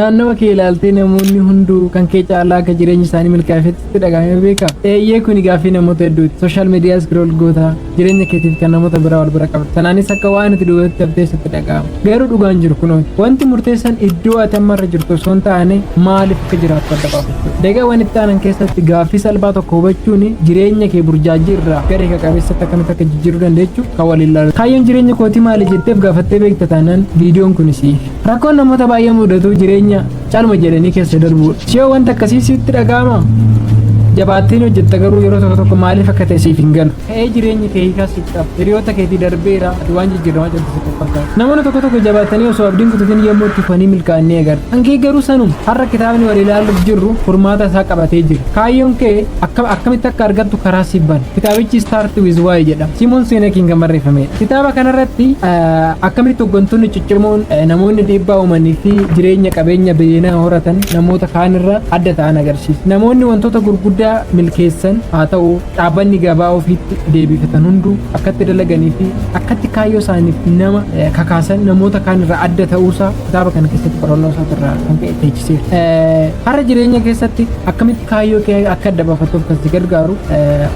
Naannawa kee ilaaltee namoonni hunduu kan kee caalaa akka jireenyi isaanii milkaa'eefetti sitti dhaga'amee beeka? Eeyyee kuni gaaffii namoota hedduuti. Sooshaal miidiyaa scroll goota jireenya keetiif kan namoota biraa wal bira qabda. Sanaanis akka waan ati duubatti haftee sitti dhaga'ama. Garuu dhugaan jiru kunooti. Wanti murteessan iddoo ati amma irra jirtu osoo hin taane maaliif akka jiraattu adda baafachuu. Daqiiqaawwan itti aanan keessatti gaaffii salphaa tokko hubachuun jireenya kee burjaajii irraa gara hiika qabeessatti akkamitti akka jijjiiruu dandeechu kan waliin ilaalu. Kaayyoon jireenya kootii maali jetteef gaafattee beekta taanaan viidiyoon kun siif. Rakkoon namoota baay'ee mudatu jireenya calma jedhanii keessa darbuudha. Siyoo wanta akkasii sitti dhaga'ama? Jabaattiin hojjetta garuu yeroo tokko tokko maaliif akka ta'e siif hin galu. Ta'ee jireenyi kee hiikaa siif qaba. Hiriyoota keetii darbeera ati waan jijjiiramaa jirtu sitti fakkaata. Namoonni tokko tokko jabaatanii osoo abdiin kutatin yommuu itti fufanii milkaa'an ni agarta. Kan kee garuu sanuma. Har'a kitaabni wal ilaaluuf jirru furmaata isaa qabatee jira. Kaayyoon kee akkam akkamitti akka argattu karaa siif bana. Kitaabichi Start with Why jedhama. Simoon Seenekiin kan barreeffamedha. Kitaaba kanarratti akkamittu hoggantoonni Cimoon namoonni dhiibbaa uumanii fi jireenya qabeenya biliyoonaa horatan namoota kaanirra adda ta'an agarsiisa. Namoonni wantoota gurguddaa milkeessan haa ta'u dhaabbanni gabaa ofiitti deebifatan hunduu akkatti dalaganii fi akkatti kaayyoo isaaniif nama kakaasan namoota kaanirra adda ta'uusaa kitaaba kana keessatti qorannoo isaatirraa kan ka'e teechiseera. Har'a jireenya keessatti akkamitti kaayyoo kee akka adda baafattuuf kan si gargaaru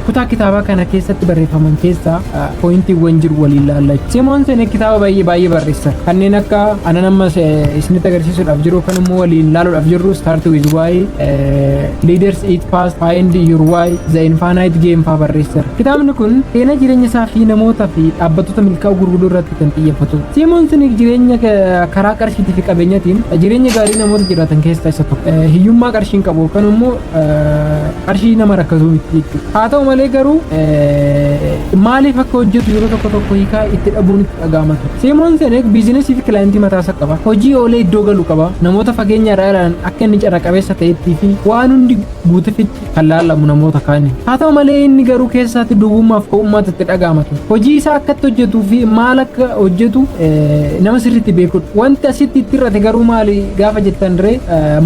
kutaa kitaabaa kana keessatti barreeffaman keessaa pooyintiiwwan jiru waliin laalla. Simoon Senek kitaaba baay'ee baay'ee barreessa. Kanneen akka anan amma isinitti agarsiisuudhaaf jiru kan immoo waliin laaluudhaaf jirru Start with Why, Leaders Eat Fast, Find Your Why, The Infinite Game faa barreesseera. Kitaabni kun seenaa jireenya isaa fi namoota fi dhaabbattoota milkaa'uu gurguddoo irratti kan xiyyeeffatu. Simoon Senek jireenya karaa qarshiitii fi qabeenyatiin jireenya gaarii namoota jiraatan keessaa isa tokko. Hiyyummaa qarshiin qabu yookaan immoo qarshii nama rakkasuu miti jechuudha. Haa ta'u malee garuu maaliif akka hojjetu yeroo tokko tokko hiikaa itti dhabuun itti dhaga'ama ture. Simoon Sinek biizinasii fi kilaayentii mataasaa qaba. Hojii oolee iddoo galu qaba. Namoota fageenya irraa ilaalan akka inni carra qabeessa ta'etti fi waan hundi guutefitti kan laallamu namoota kaani. Haa ta'u malee inni garuu keessaatti duwwummaaf ko'ummaatti itti dhaga'ama ture. Hojii isaa akkatti hojjetuu fi maal akka hojjetu nama sirriitti beekudha. Wanti asitti itti irrate garuu maali? gaafa jettan ree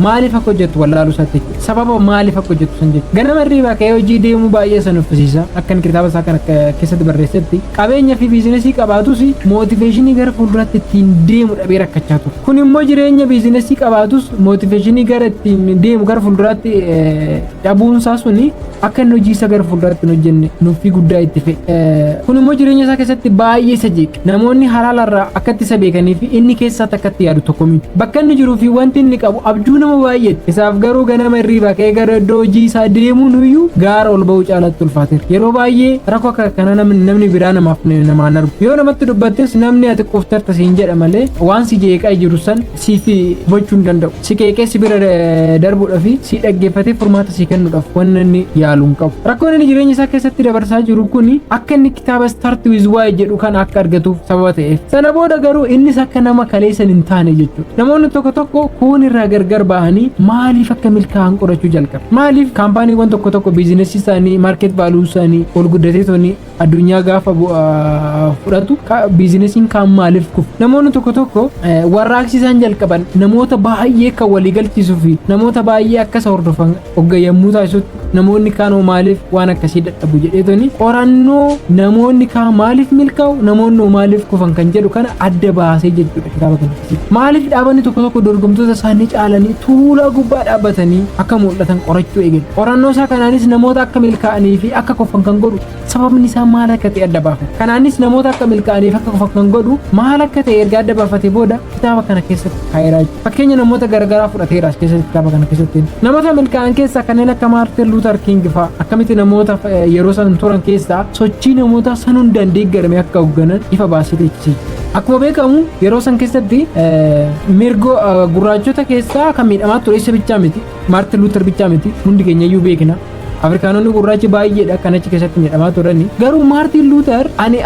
maaliif akka hojjettu wallaaluu isaatti jechuudha. Sababa maaliif akka hojjettu san jechuudha. Ganama hirriibaa ka'ee hojii deemuu baay'ee san uffisiisa. Akkan kitaaba isaa kana keessatti barreessetti qabeenya fi biizinesii qabaatus mootiveeshinii gara fuulduraatti ittiin deemu dhabee rakkachaa ture. Kun immoo jireenya biizinesii qabaatus mootiveeshinii gara ittiin deemu gara fuulduraatti dhabuunsaa suni akka inni hojii isa gara fuulduratti hin hojjenne nuffii guddaa itti fe'e. Kun immoo jireenya isaa keessatti baay'ee isa jeeqe. Namoonni halaala irraa akkatti isa beekanii fi inni keessaa takkatti yaadu tokko miti. Bakka inni jiruu fi wanti inni qabu abjuu nama baay'eeti. Isaaf garuu ganama irriibaa ka'ee gara iddoo hojii isaa deemuun iyyuu gaara ol ba'uu caalatti ulfaateera. Yeroo baay'ee rakkoo akka kana namni biraa namaaf namaan argu. Yoo namatti dubbattes namni ati quuftarta siin jedha malee waan si jeeqaa jiru san siif gochuu hin danda'u. Si qeeqee si bira eh, darbuudhaa fi si dhaggeeffatee furmaata si kennuudhaaf wanna inni yaalu hin qabu. Rakkoon inni jireenya isaa keessatti dabarsaa jiru kun akka inni kitaaba Start with Why jedhu kana akka argatuuf sababa ta'eef. Sana booda garuu innis akka nama kaleessan hin taane jechuudha. Namoonni tokko tokko kuun irraa gargar bahanii maaliif akka milkaa'an qorachuu jalqabu. Maaliif kaampaaniiwwan tokko tokko biizinesii isaanii, maarkeet vaaluu isaanii ol guddatee toni addunyaa gaafa fudhatu biizinesiin kaan maaliif kufu namoonni tokko tokko warraaqsi isaan jalqaban namoota baay'ee kan walii galchiisuu fi namoota baay'ee akkas hordofan ogga yommuu taasisutti namoonni kaan hoo maaliif waan akkasii dadhabu jedheetoni qorannoo namoonni kaan maaliif milkaa'u namoonni hoo maaliif kufan kan jedhu kana adda baasee jechuudha kitaaba kana. Maaliif dhaabanni tokko tokko dorgomtoota isaanii caalanii tuulaa gubbaa dhaabbatanii akka mul'atan qorachuu eegale. Qorannoo isaa kanaanis namoota akka milkaa'anii fi akka kofan kan godhu sababni isaa maal akka ta'e adda baafate. Kanaanis namoota akka milkaa'anii fi akka kofan kan godhu maal akka ta'e erga adda baafate booda kitaaba kana keessatti kaa'eera jechuudha. Fakkeenya namoota garaagaraa fudhateera as keessatti kitaaba kana keessatti. Namoota milkaa'an keessaa kanneen akka Maartin Luutar Kiing fa'a akkamitti namoota yeroo san turan keessaa sochii namootaa san hundaan deeggarame akka hoogganan ifa baasee teechisiisa. Akkuma beekamu yeroo san keessatti mirgo gurraachota keessaa kan miidhamaa ture isa bichaa miti. Maartin Luuter bichaa miti. Hundi keenya iyyuu beekna. Afrikaanonni gurraachi baay'eedha kan achi keessatti miidhamaa turani. Garuu Maartin Luuter ani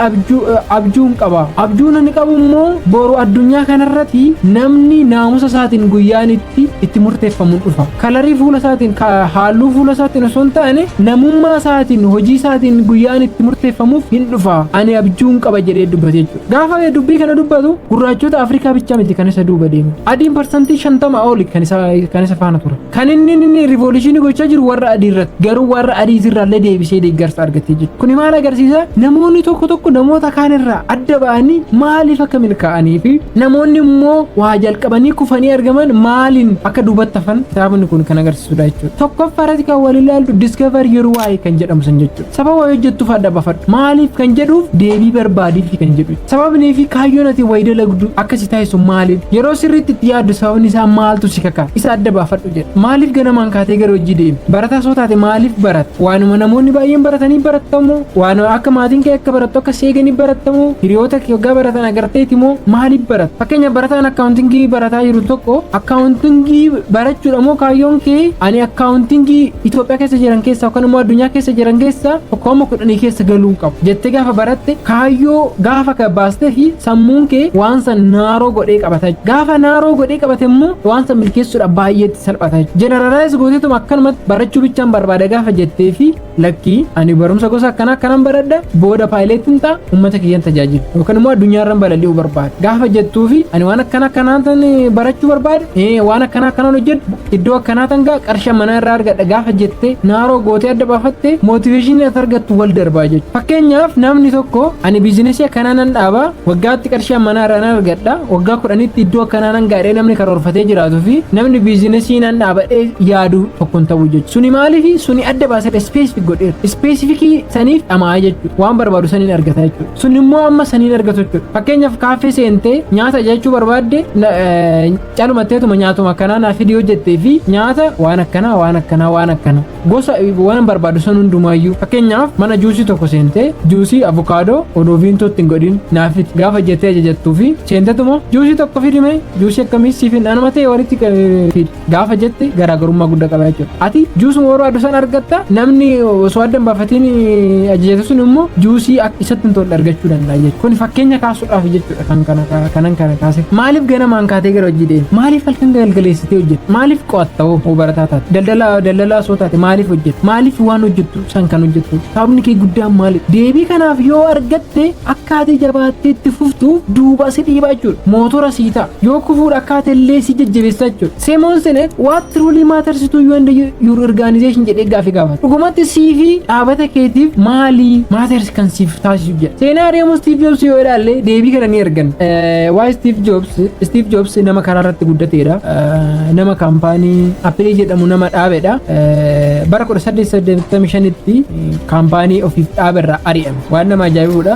abjuun qaba. Abjuun ani qabu immoo boru addunyaa kanarratti namni naamusa isaatiin guyyaan itti itti murteeffamuun dhufa. kalarii fuula isaatiin halluu fuula isaatiin osoo hin taane namummaa isaatiin hojii isaatiin guyyaan itti murteeffamuuf hin dhufa ani abjuun qaba jedhee dubbate jechuudha. Gaafa dubbii kana dubbatu gurraachota Afrikaa bichaa miti kan isa duuba deemu. Adiin parsantii shantama oli kan isa kan isa faana ture. Kan inni inni rivooluushinii gochaa jiru warra adii irratti garuu warra adii irraallee deebisee deeggarsa argatee jiru. Kuni maal agarsiisa? Namoonni tokko tokko namoota kaan irraa adda ba'anii maaliif akka milkaa'anii fi namoonni immoo waa jalqabu. qabanii kufanii argaman maaliin akka duubatti hafan kitaabni kun kan agarsiisudha jechuudha. Tokkoffaa irratti kan wal ilaallu discover your why kan jedhamu sun jechuudha. Sababa wayii hojjettuuf adda bafadhu. Maaliif kan jedhuuf deebii barbaadiifi kan jedhu. Sababnii fi kaayyoon ati wayii dalagdu akka si taasisu maaliidha? Yeroo sirriitti itti yaaddu sababni isaa maaltu si kaka? Isa adda baafadhu. hojjeta. Maaliif ganamaan kaatee gara hojii deemta? Barataa soo taate maaliif baratta? Waanuma namoonni baay'een baratanii barattamoo? Waanuma akka maatiin kee akka barattu akka seeganii barattamoo? Hiriyoota kee waggaa baratan agarteeti moo maaliif baratta? Fakkeenya barataan akkaawuntingii barataa jiru tokko akkaawuntingii barachuudha moo kaayyoon kee ani akkaawuntingii Itoophiyaa keessa jiran keessaa yookaan immoo addunyaa keessa jiran keessaa tokkooma kudhanii keessa galuu hin qabu jettee gaafa baratte kaayyoo gaafa ka baastee fi sammuun kee waan san naaroo godhee qabata gaafa naaroo godhee qabate immoo waan san milkeessuudhaaf baay'eetti salphata jeneralaayiz gooteetum akkanumatti barachuu bichaan barbaada gaafa jettee fi lakkii ani barumsa gosa akkana akkanan baradha booda paayileetiin ta'a uummata kiyyan tajaajilu yookaan immoo addunyaarran balali'uu barbaada gaafa jettuu fi ani waan akkana akkanaan barachuu barbaada waan akkana akkanaan hojjedhu Iddoo akkanaa tangaa qarsha manaa irraa argadha gaafa jettee naaroo gootee adda baafatte mootiveeshinii as argattu wal darbaa jechuudha. Fakkeenyaaf namni tokko ani biizinesii akkanaa nan dhaaba waggaatti qarsha manaa irraa nan argadha waggaa kudhanitti iddoo akkanaa nan gaadhee namni karoorfatee jiraatu fi namni biizinesii nan dhaabadhee yaadu tokkon ta'uu jechuudha. Suni maaliifi suni adda baasadha ispeesifik godheera. Ispeesifikii saniif dhama'aa jechuudha. Waan barbaadu saniin argata jechuudha. Suni immoo amma saniin argatu jechuudha. Fakkeenyaaf kaaffee seentee nyaata ajajachuu barbaadde calumatteetuma nyaatuma akkanaa naa fidi yoo jettee fi nyaata waan akkanaa waan akkanaa waan akkana gosa waan barbaadu san hundumaayyuu fakkeenyaaf mana juusii tokko seentee juusii avokaadoo odoo viintoo ittiin godhin naa fidi gaafa jettee ajajattuu fi seentetuma juusii tokko fidime juusii akkamii siif hin anuma ta'e walitti fidi gaafa jette garaagarummaa guddaa qaba jechuudha ati juusuma barbaadu san argatta namni osoo adda hin baafatiin ajajatu sun immoo juusii isatti hin tolle argachuu danda'a jechuudha kun fakkeenya kaasuudhaaf jechuudha. kan kana kaa- kanan kana kaase maaliif ganamaan kaatee gara hojii deemte maaliif halkan galgaleessitee hojjette maaliif qo'atta hoo hoo barataa taate daldalaa daldalaa osoo taate maaliif hojjette maaliif waan hojjettu san kan hojjettu sababni kee guddaan maali deebii kanaaf yoo argatte akkaatii jabaattee itti fuftuuf duuba si dhiibaa jechuudha mootora sii ta'a yoo kufuudha akkaata illee si jajjabeessaa jechuudha Simon Sinek what truly matters to you and your organization jedhee gaaffii gaafata. Dhugumatti sii fi dhaabata keetiif maalii matters kan siif taasisu jedha. Seenaa adeemuu Steve Jobs yoo ilaalle deebii kana ni arganna. Eh, Waa'ee Steve Jobs, Steve Jobs nama karaa irratti guddateedha. Eh, Nama kaampaanii Apple jedhamu nama dhaabedha. Eh, Bara 1885tti kaampaanii ofiif dhaaberraa ari'ame. Waan nama ajaa'ibuudha.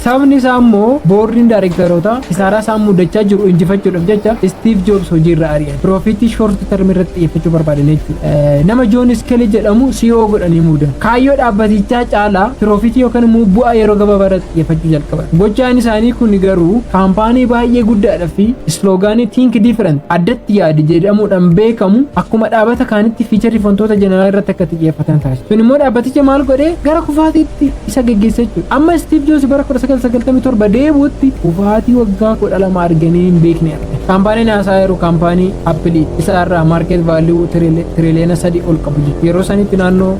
Sababni isaa immoo boordiin daarektarootaa kisaaraa isaan mudachaa jiru injifachuudhaaf jecha Istiiv Joobs hojiirra ari'an. Piroofiitii shoorti termii irratti xiyyeeffachuu barbaadan jechuudha. Nama Joon Iskeelii jedhamu CEO godhanii muudan. Kaayyoo dhaabbatichaa caalaa piroofiitii yookaan immoo bu'aa yeroo gabaabaa irratti xiyyeeffachuu jalqaban. Gochaan isaanii kun garuu kaampaanii baay'ee guddaadha fi isloogaanii Think Different addatti yaadi jedhamuudhaan beekamu akkuma dhaabata kaanitti fiicharii fi wantoota jeneraalaa irratti akka xiyyeeffatan taasisa. Kun immoo dhaabbaticha maal godhee gara kufaatiitti isa geggeessa jechuudha. Amma Istiiv Joobs bara 1997 deebi'utti kufaatii waggaa 12 arganii hin beekne arge. Kaampaaniin haasaa yeroo kaampaanii Appilii isa irraa maarkeet vaaliyuu tiriiliyoona sadii ol qabu jechuudha. Yeroo sanitti naannoo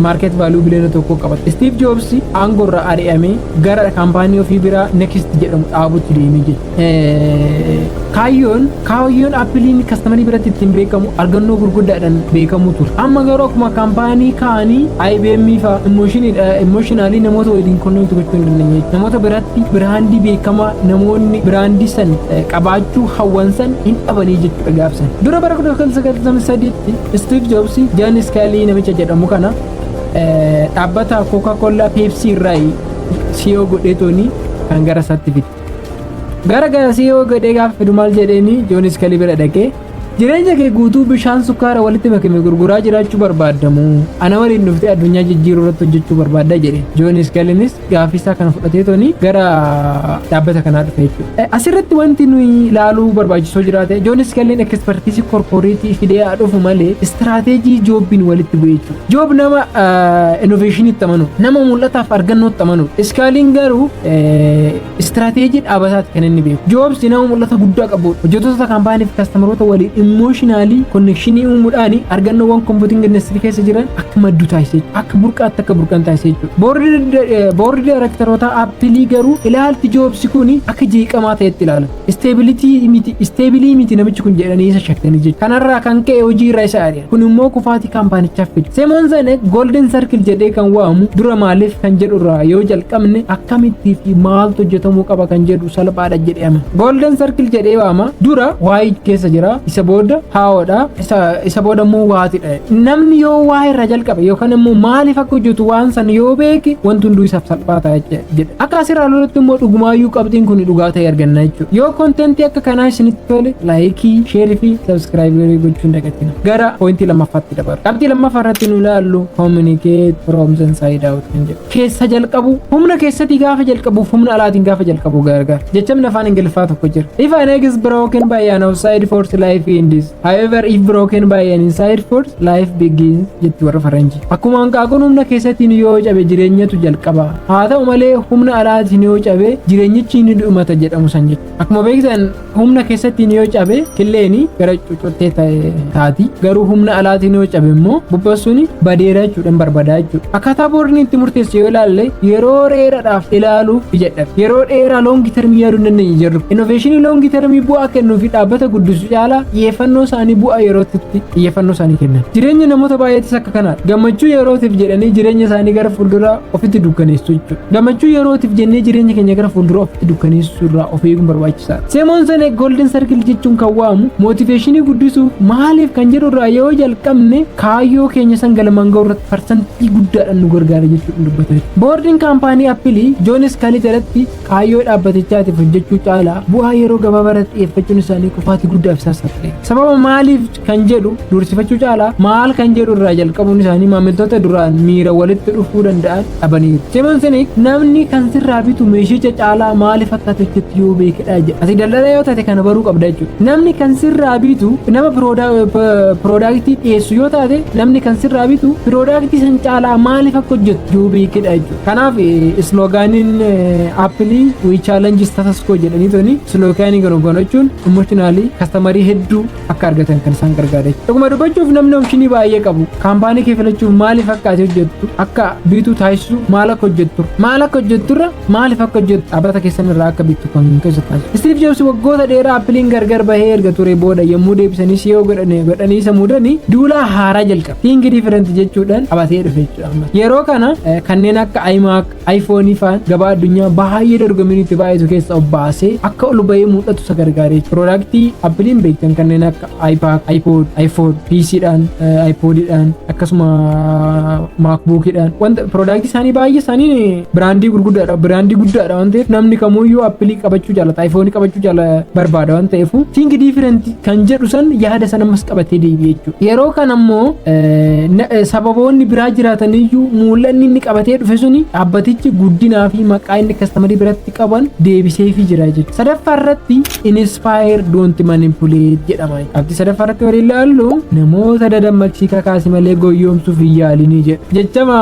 maarkeet vaaliyuu biliyoona tokko qaba. Istiiv Joobs aangoo irraa ari'amee gara kaampaanii ofii biraa Next jedhamu dhaabutti deemee jechuudha. kaayyoon kaayyoon appiliin kastamarii biratti ittiin beekamu argannoo gurguddaadhaan beekamuu ture amma garuu akkuma kaampaanii kaanii IBM fa imooshinaali namoota waliin konneekti gochuu hin dandeenye namoota biratti biraandii beekamaa namoonni biraandii san qabaachuu hawwan san hin dhabanii jechuudha gaafsan dura bara 1993tti Steve Jobs Jan Scully namicha jedhamu kana dhaabbata Coca-Cola Pepsi irraa CEO godheetooni kan gara isaatti fide. Gara garasii yoo gadhee gaafa fidu maal jedheeni Joonis Kalii bira dhaqee jireenya kee guutuu bishaan sukkaara walitti makame gurguraa jiraachuu barbaaddamu ana waliin dhuftee addunyaa jijjiiruu irratti hojjechuu barbaadda jedhe Joonis Kaliinis gaaffii isaa kana fudhatee toni gara dhaabbata kanaa dhufe jechuudha. Asirratti wanti nuyi ilaaluu barbaachisoo jiraate Joonis Kaliin ekspertiisii korporeetii fidee haa dhufu malee istiraateejii joobbiin walitti bu'e jechuudha. Joob nama innoveeshiniitti amanudha. Nama mul'ataaf argannootti amanudha. Iskaaliin garuu istiraateejii dhaabataatti kan inni beeku. Joobs nama mul'ata guddaa qabudha. Hojjettoota kaampaanii fi kastamarota waliin immooshinaalii konnekshinii uumuudhaan argannoowwan kompiitinga industirii keessa jiran akka maddu taasisee akka burqaatti akka burqan taasisee jechuudha. Boordi daayrektarootaa appilii garuu ilaalti joobsi kun akka jeeqamaa ta'etti ilaala. isteebilii miti namichi kun jedhanii isa shakkanii jechuudha. Kanarraa kan ka'e hojii irraa isa ari'an. Kun immoo kufaatii kaampaanichaaf fide. Semoon Zane Golden Circle jedhee kan waamu dura maaliif kan jedhu irraa yoo jalqabne akkamittii fi maaltu hojjetamuu qaba kan jedhu salphaadha jedhee amana. Golden Circle jedhee waama dura waayii keessa jira isa booda haa'oodha. isa isa booda immoo waati dha'e namni yoo waa irra jalqabe yookaan immoo maaliif akka hojjetu waan san yoo beeke wanti hunduu isaaf salphaa ta'a jecha- jedha akka asirraa lolutti immoo dhugumaayyuu qabxiin kun dhugaa ta'e arganna jechuudha yoo kontentii akka kanaa isinitti tole laayikii sheerii fi sabskraayiberii gochuun dagatina gara poointii lammaffaatti dabarra qabxii lammaffaa irratti nu ilaallu communicate from inside out kan jedhu keessa jalqabu humna keessati gaafa jalqabuuf humna alaatiin gaafa jalqabu gargar jechamni afaan ingiliffaa tokko jira if an egg is broken by an outside force life ends however if broken by an inside force life begins jetti warra faranji akkuma hanqaaquun humna keessatiin yoo cabe jireenyatu jalqaba haa ta'u malee humna alaatiin yoo cabe jireenyichi ni dhumata jedhamu san jechuudha akkuma beektan Humna keessattiin yoo cabe killeeni gara cucuttee ta'e taati. Garuu humna alaatiin yoo cabe immoo bubbassuun badeera jechuudhaan barbadaa jechuudha. Akkaataa boordiin itti murteessu yoo ilaalle yeroo dheeraadhaaf ilaaluuf ijadha. Yeroo dheeraa loongi termii yaaduu hin dandeenye jirru. Innoveeshinii loongi termii bu'aa kennuu fi dhaabbata guddisuu caalaa xiyyeeffannoo isaanii bu'aa yerootti xiyyeeffannoo isaanii kennan. Jireenya namoota baay'eetis akka kanaadha. Gammachuu yerootiif jedhanii jireenya isaanii gara fuulduraa ofitti dukkaneessu jechuudha. Gammachuu yerootiif jennee jireenya keenya gara fuuldura ofitti dukkaneessuu irraa of eeguun barbaachisaadha. Seemoon Senee Golden Circle jechuun kan waamu mootiveeshinii guddisuu maaliif kan jedhu irraa yoo jalqabne kaayyoo keenya san galmaan ga'uu irratti parsantii guddaadhaan nu gargaara jechuudhaan dubbatee jira. Boordiin kaampaanii Appilii Joonis Kalii jalatti kaayyoo dhaabbatichaatiif hojjechuu caalaa bu'aa yeroo gabaabaa irratti xiyyeeffachuun isaanii kufaatii guddaaf isaan saaxile. Sababa maaliif kan jedhu dursifachuu caalaa maal kan jedhu irraa jalqabuun isaanii maamiltoota duraan miira walitti dhufuu danda'an dhabaniiru. Simon Sinek namni kan sirraa bitu meeshicha caalaa maaliif akka tolchutti yoo beekedha jedha. Ati daldalaa yoo taate kana baruu qabda jechuudha. Namni kan sirraa bitu nama piroodaaktii dhiyeessu yoo taate namni kan sirraa bitu piroodaaktii san caalaa maaliif akka hojjettu yoo beekedha jechuudha. Kanaaf isloogaaniin appilii wii chaalenji status koo jedhanii tuni isloogaanii garuu gochuun emotionaalii kastamarii hedduu akka argatan kan isaan gargaare. Dhuguma dubbachuuf namni omishinii baay'ee qabu kaampaanii kee filachuuf maaliif akka ati hojjettu akka biitu taasisu maal akka hojjettu maal akka hojjetturra maaliif akka hojjettu dhaabbata keessan irraa akka biitu kan keessa taasisu. Istiif Joobs waggoota dheeraa appiliin gargar bahee erga ture booda yommuu deebisanii siyoo godhanii godhanii isa muudanii duulaa haaraa jalqabe. Tiingi diifirenti jechuudhaan qabatee dhufe jechuudha. Yeroo kana kanneen akka Ayimaak iPhone faan gabaa addunyaa baay'ee dorgommiin itti baay'atu keessa of baasee akka ol bahee mul'atu isa gargaaree jira. Piroodaaktii Appiliin beektan kanneen akka iPad, iPod, iPhone, PC dhaan, iPod dhaan akkasuma MacBook dhaan wanta piroodaaktii isaanii baay'ee isaanii biraandii gurguddaadha. Biraandii guddaadha waan ta'eef namni kamuyyuu Appilii qabachuu jaalata. iPhone qabachuu jaala barbaada waan ta'eef. Think different kan jedhu san yaada san ammas qabatee deebi'e jechuudha. Yeroo kana immoo sababoonni biraa jiraataniyyuu mul'anni inni qabatee dhufe suni dhaabbatichi guddinaa fi maqaa inni kastamarii biratti qaban deebiseefii jira jechuudha. Sadaffaa irratti inspire don't manipulate jedhama. Abdi sadaffaa irratti warri ilaallu namoota dadammaqsii kakaasi malee goyyoomsuuf hin yaalinii jedha. Jechama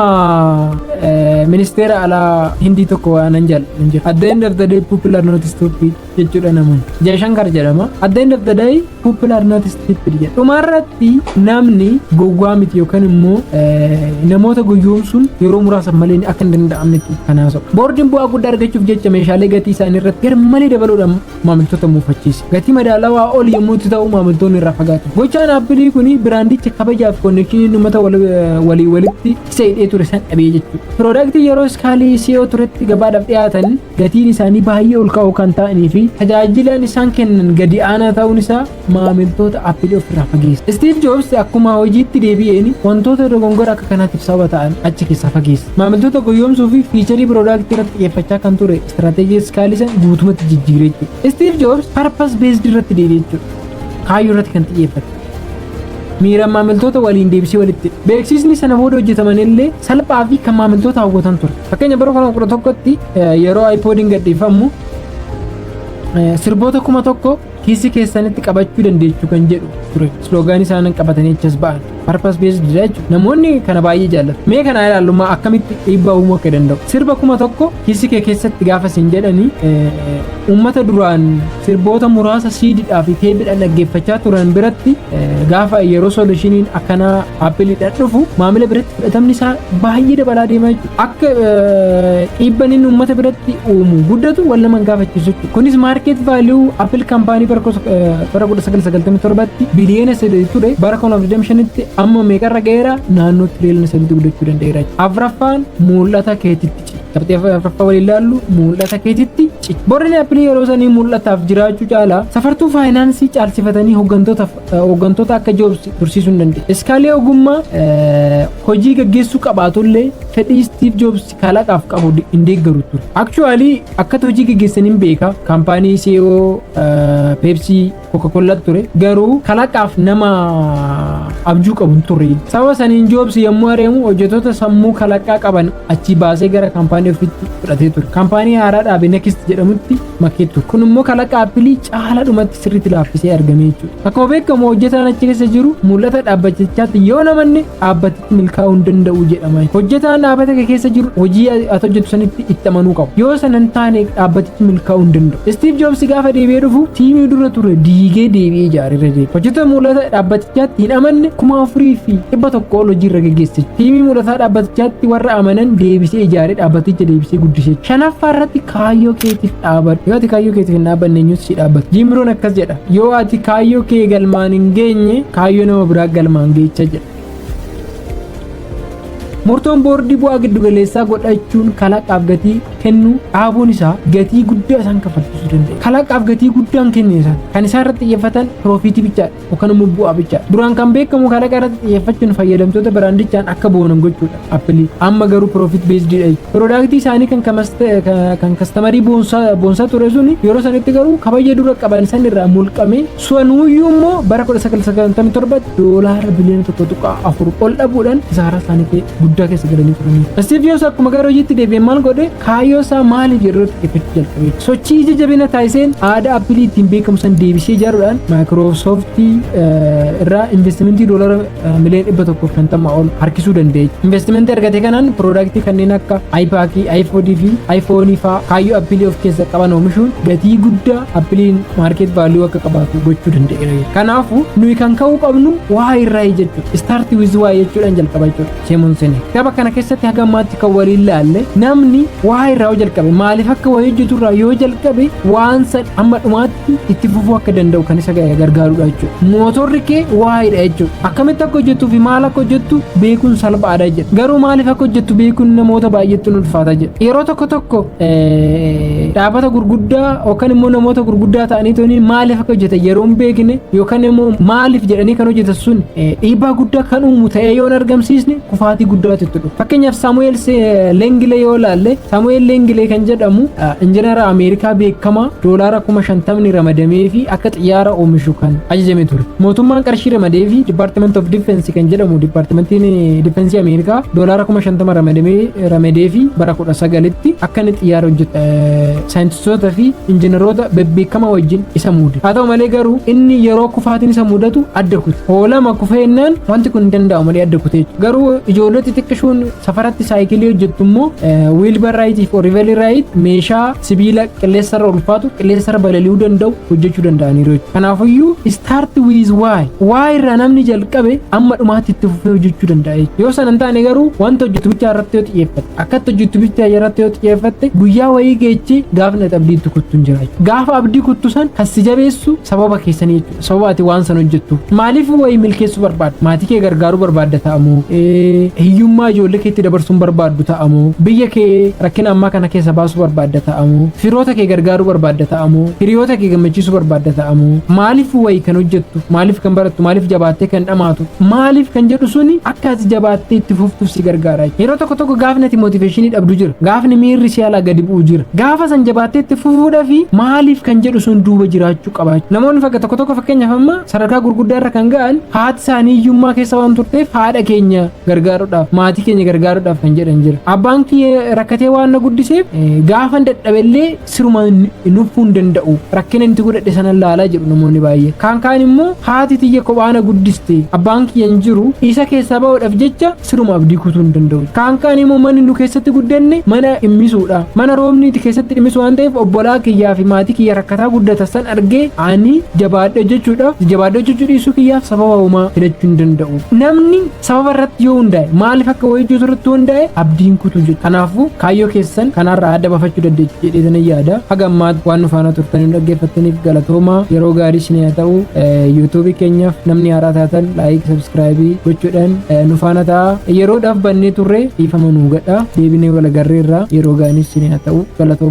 ministeera alaa hindii tokko waanan jaalladhan jira. At the end of the day people are not stupid. jechuudha namoonni. Jaashankar jedhama. At the end of the day people are not stupid jedha. Dhumarratti namni gowwaa miti yookaan immoo namoota goyyoomsuun yeroo muraasa malee akka hin danda'amnetti kan haasa'u. Boordiin bu'aa guddaa argachuuf jecha meeshaalee gatii isaanii irratti garmalee dabaluudhaan maamiltoota muufachiisa. Gatii madaalawaa ol yommuu itti ta'u maamiltoonni irraa fagaatu. Gochaan aappilii kun biraandicha kabajaaf konnekshinii uummata walii walitti isa hidhee ture san dhabee jechuudha. Piroodaaktii yeroo iskaalii si'oo turetti gabaadhaaf dhiyaatan gatiin isaanii baay'ee ol ka'oo kan ta'anii fi tajaajilaan isaan kennan gadi aanaa ta'uun isaa maamiltoota Apple ofirraa fageessa. Steve Jobs akkuma hojiitti deebi'een wantoota dogongora akka kanaatiif sababa ta'an achi keessaa fageessa. Maamiltoota goyyoomsuu fi fiicharii piroodaaktii irratti xiyyeeffachaa kan ture istiraateejii iskaalisa guutumatti jijjiiree jechuudha. Steve Jobs purpose based irratti deebi'ee jechuudha. Kaayyoo irratti kan xiyyeeffate. miira maamiltoota waliin deebisee walitti beeksisni sana booda hojjetaman illee salphaa fi kan maamiltoota hawwatan ture fakkeenya bara 2011tti yeroo iPodiin gadhiifamu sirboota kuma tokko kiisii keessanitti qabachuu dandeessu kan jedhu ture sloogaanii isaanan qabatanii achas ba'an parpas beesdi jechuudha namoonni kana baay'ee jaallatu mee kana ilaallumaa akkamitti dhiibbaa uumuu akka danda'u sirba kuma tokko kiisii kee keessatti gaafa isin jedhanii Uummata duraan sirboota muraasa siididhaa fi teepidhaan dhaggeeffachaa turan biratti gaafa yeroo solushiniin akkanaa appiliidhaan dhufu maamila biratti fudhatamni isaa baay'ee dabalaa deema jechuudha. Akka dhiibban inni uummata biratti uumu guddatu wal nama gaafachiisu jechuudha. Kunis maarkeet vaaliyuu appil kaampaanii bara 1997tti biliyoona 3 ture bara 2025tti amma meeqarra ga'eera naannoo tiriiliyoona 3 guddachuu danda'eera. Afraffaan mul'ata keetitti. Qabxii afraffaa waliin ilaallu mul'ata keetitti cicha. Boordiin appilii yeroo sanii mul'ataaf jiraachuu caalaa safartuu faayinaansii caalsifatanii hooggantoota akka joobsi tursiisuu hin dandeenye. Iskaalee ogummaa hojii gaggeessuu qabaatullee fedhii Istiif Joobsi kalaqaaf qabu hin deeggaru ture. Akchuwaalii akkata hojii gaggeessan hin beeka kaampaanii CEO Peepsii kokakollat ture garuu kalaqaaf nama abjuu qabu hin turre sababa saniin joobsi yommuu areemu hojjetoota sammuu kalaqaa qaban achii baasee gara kaampaanii ofitti fudhatee ture kaampaanii haaraa dhaabe nekist jedhamutti makee ture kun immoo kalaqa appilii caala dhumatti sirriitti laaffisee argame jechuudha akkuma beekamu hojjetaan achi keessa jiru mul'ata dhaabbachichaatti yoo namanne dhaabbati milkaa'uu hin danda'u jedhama. Hojjetaan dhaabbata kee keessa jiru hojii ati hojjettu sanitti itti amanuu qabu. Yoo sana hin taane dhaabbatichi milkaa'uu hin danda'u. Istiiv Joobsi gaafa deebi'ee dhufu tiimii dura ture diigee deebi'ee ijaaree irra deebi'e. Hojjettoota mul'ata dhaabbatichaatti hin amanne kuma afurii fi dhibba tokko ol hojii irra geggeesse. Tiimii mul'ataa dhaabbatichaatti warra amanan deebisee ijaaree dhaabbaticha deebisee guddise. Shanaffaa irratti kaayyoo keetiif dhaabadhu. Yoo ati kaayyoo keetiif hin dhaabanne eenyutu si dhaabbata? Jiimroon akkas jedha. Yoo ati kaayyoo kee galmaan hin geenye kaayyoo nama biraa galmaan geecha jedha. Murtoon boordii bu'aa giddugaleessaa godhachuun kalaqaaf gatii kennuu dhaabuun isaa gatii guddaa isaan kaffalchiisuu danda'a. Kalaqaaf gatii guddaan kenne isaan kan isaan irratti xiyyeeffatan piroofiitii bichaadha yookaan immoo bu'aa bichaadha. Duraan kan beekamu kalaqa irratti xiyyeeffachuun fayyadamtoota biraandichaan akka boonan gochuudha. Appilii amma garuu piroofiit beesdiidha jechuudha. Piroodaaktii isaanii kan kan kastamarii boonsaa ture sun yeroo sanitti garuu kabaja dura qaban san irraa mulqamee Suwanuuyyuu immoo bara 1997 doolaara biliyoona 1.4 ol dhabuudhaan kisaaraa isaanii guddaa keessa galanii turanii. Istiifiyoos akkuma gara hojiitti deebi'e maal godhe kaayyoo isaa maaliif yeroo xiqqeeffachuu jalqabe. Sochii ija jabina taasiseen aadaa appilii ittiin beekamu san deebisee ijaaruudhaan maayikiroosooftii irraa investimentii doolaara miliyoon dhibba tokkoof shantama ol harkisuu dandeenya. Investimentii argate kanaan piroodaaktii kanneen akka iPaakii, iPodii fi iPhoonii fa'aa kaayyoo appilii of keessa qaban oomishuun gatii guddaa appiliin maarkeet vaaluu akka qabaatu gochuu danda'eera. Kanaafuu nuyi kan ka'uu qabnu waa irraa jechuudha. Istaartii wiz waa jechuudhaan jalqaba jechuudha. Seemuun seenee. Gaba kana keessatti haga ammaatti kan waliin laalle namni waa irraa yoo jalqabe maaliif akka waa hojjetu irraa yoo jalqabe waan san amma dhumaatti itti fufuu akka danda'u kan isa gargaarudha jechuudha. Mootorri kee waa'eedha jechuudha. Akkamitti akka hojjettuu fi maal akka hojjettu beekuun salphaadha jechuudha. Garuu maaliif akka hojjettu beekuun namoota baay'eetti nu ulfaata jechuudha. Yeroo tokko tokko dhaabbata gurguddaa yookaan immoo namoota gurguddaa ta'anii tooniin maaliif akka hojjetan yeroo hin beekne yookaan immoo maaliif jedhanii kan hojjetan sun dhiibbaa guddaa kan uumu ta'ee yoo hin argamsiisne kufaatii guddaatu itti dhufa. Fakkeenyaaf Saamu'eel Leengilee yoo ilaalle Saamu'eel Leengilee kan jedhamu injinara Ameerikaa beekamaa doolaara kuma shantamni ramadamee fi akka xiyyaara oomishu kan ajajame ture. Mootummaan qarshii ramadee fi Department of Defense kan jedhamu Departmentiin Defensii Ameerikaa doolaara kuma shantama ramadee fi bara kudha sagalitti akka inni xiyyaara hojjetu saayintistoota fi injinaroota bebbeekamaa wajjin isa muude. Haa ta'u malee garuu inni yeroo kufaatiin isa mudatu adda kute. Hoolama kufeennaan wanti kun hin danda'u malee adda kute. Garuu ijoollee xixiqqishoon safaratti saayikilii hojjettu immoo wiilbar raayitii fi oriivelii raayit meeshaa sibiila qilleensarra ulfaatu qilleensarra balali'uu danda'u hojjechuu danda'aniiru. Kanaafiyyuu start with why why irraa namni jalqabe amma dhumaatti itti fufee hojjechuu danda'a. Yoo sana hin taane garuu wanta hojjetu bichaa irratti yoo xiyyeeffate. Akkatti hojjettu bicha irratti yoo xiyyeeffatte guyyaa wayii geechi gaafni ati abdii itti kuttu hin jira jechuudha. Gaafa abdii kuttu san kan si jabeessu sababa keessanii jechuudha. Sababa ati waan san hojjettu. Maaliif wayii milkeessuu barbaadda? Maatii kee gargaaruu barbaadda ta'amoo? Hiyyummaa ijoollee keetti dabarsuun barbaaddu ta'amoo? Biyya kee rakkina ammaa kana keessa baasuu barbaadda ta'amoo? Firoota kee gargaaruu barbaadda ta'amoo? Hiriyoota kee gammachiisuu barbaadda ta'amoo? Maaliif wayii kan hojjettu? Maaliif kan barattu? Maaliif jabaattee kan dhamaatu? Maaliif kan jedhu suni akka ati jabaattee itti fuftuuf si gargaara. Yeroo tokko tokko gaafni ati mootiveeshinii dhabdu jira. Gaafni miirri si alaa gadi bu'u jira. Gaafa san jabaattee itti fufuudhaa fi maaliif kan jedhu sun duuba jiraachuu qabaachuu. Namoonni fakka tokko tokko fakkeenyaaf amma sadarkaa gurguddaa irra kan ga'an haati isaanii hiyyummaa keessa waan turteef haadha keenya gargaaruudhaaf maatii keenya gargaaruudhaaf kan jedhan jira. Abbaan kiyya rakkatee waan na guddiseef gaafan dadhabellee siruma hin uffuu hin danda'u rakkina inni godhadhe sana laala jedhu namoonni baay'ee kaan kaan immoo haati tiyya kophaana guddiste abbaan kiyya hin jiru isa keessaa ba'uudhaaf jecha siruma abdii kutuu hin danda'u kaan kaan immoo manni nu keessatti guddanne mana dhimmisuudha mana roobni itti keessatti dhimmisu waan ta'eef obbolaa kiyyaa fi maatii kiyya rakkataa guddata san argee ani jabaadhe jechuudha jabaadhe jechuu dhiisuu kiyyaaf sababa uumaa filachuu hin danda'u namni Sababa irratti yoo hundaa'e maaliif akka hojjetu irratti yoo hundaa'e abdiin kutuu jedhu. Kanaafuu kaayyoo keessan kanaarraa adda bafachuu dandeessu jedhee sana yaada. Haga ammaatti waan nu faana turtanii nu dhaggeeffattaniif galatoomaa yeroo gaarii isin haa ta'u yuutuubii keenyaaf namni haaraa taatan laayik sabskraayibii gochuudhaan nu faana ta'a. Yeroodhaaf bannee turre dhiifama nuu gadha deebinee walagarreerraa yeroo gaarii isin haa ta'u galatoomaa.